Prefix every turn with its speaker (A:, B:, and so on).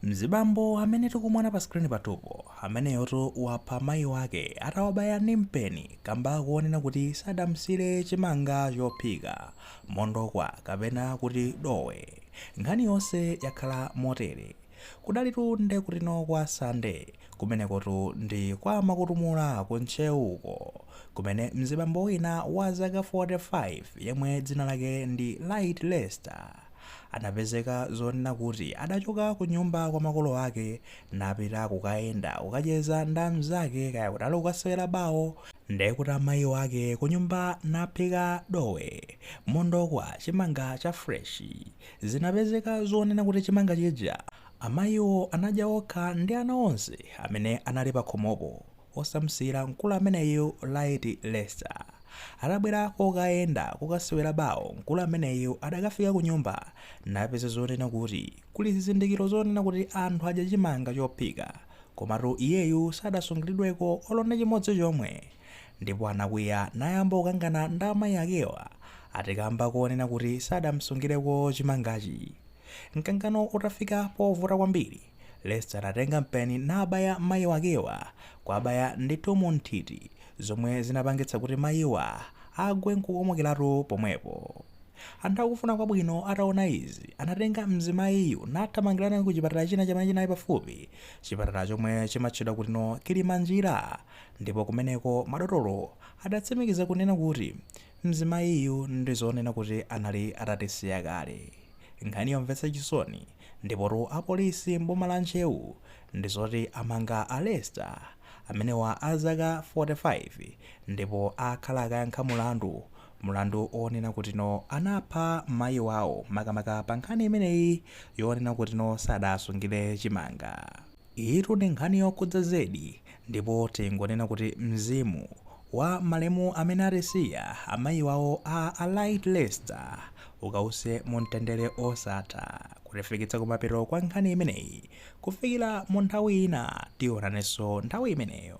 A: Mzibambo amene tikumuona pa screen pathupo ameneyotu wapha mayi wake atawabaya ndi mpeni kamba konena kuti sadamsiyire chimanga chophika, mondokwa kapena kuti dowe. Nkhani yonse yakhala motere. Kudalitu nde kutino kwa Sande, kumenekotu ndi kwa Makutumula ku Ntcheu uko, kumene mzibambo wina wa zaka 45 yemwe dzina lake ndi Light Lester, anapezeka zonena kuti adachoka kunyumba kwa makolo ake napita kukayenda kukacheza nda amnzake kaya kuti ali kukasewera bawo nde kuti amayi wake kunyumba naphika dowe, mondokwa, chimanga cha fresh. Zinapezeka zonena kuti chimanga chija amayiwo anadya okha ndi ana onse amene anali pakhomopo osamsiyira mkulu ameneyu Light Lester. Atabwera kokayenda kukasewera bawo, mkulu ameneyu adakafika kunyumba napeza zonena kuti kuli zizindikiro zonena kuti anthu adya chimanga chophika, komatu iyeyu sadasungilidweko olo ndi chimodzi chomwe ndipo anakwiya nayamba kukangana ndi amayi akewa ati kamba konena kuti sadamsungireko chimangachi. Mkangano utafika povuta kwambiri. Lester anatenga mpeni nabaya mayi wakewa kwabaya ndithu mu nthiti zomwe zinapangitsa kuti mayiwa agwe nkukomokeratu pomwepo. Anthu akufuna kwabwino ataona izi anatenga mzimayiyu nathamangila naye ku chipatala china chamene chinali pafupi chipatala chomwe chimatchedwa kutino Kilimanjira ndipo kumeneko madotolo adatsimikiza kunena kuti mzimayiyu ndizonena kuti anali atatisiya kale. Nkhani yomvetsa chisoni. Ndipotu apolisi m'boma la Ntcheu ndi zoti amanga a Lester amenewa a zaka 45 ndipo akhala akayankha mulandu, mulandu onena kutino anapha mayi wawo makamaka pa nkhani imeneyi yonena kutino sadasungire chimanga. Iyitu ndi nkhani yokhudza zedi ndipo tingonena kuti mzimu wa malemu amene atisiya amayi wawo a Light Lester ukawuse mumtendere osatha kutifikitsa kumapeto kwa nkhani imeneyi kufikira mu nthawi ina tionaneso nthawi imeneyo.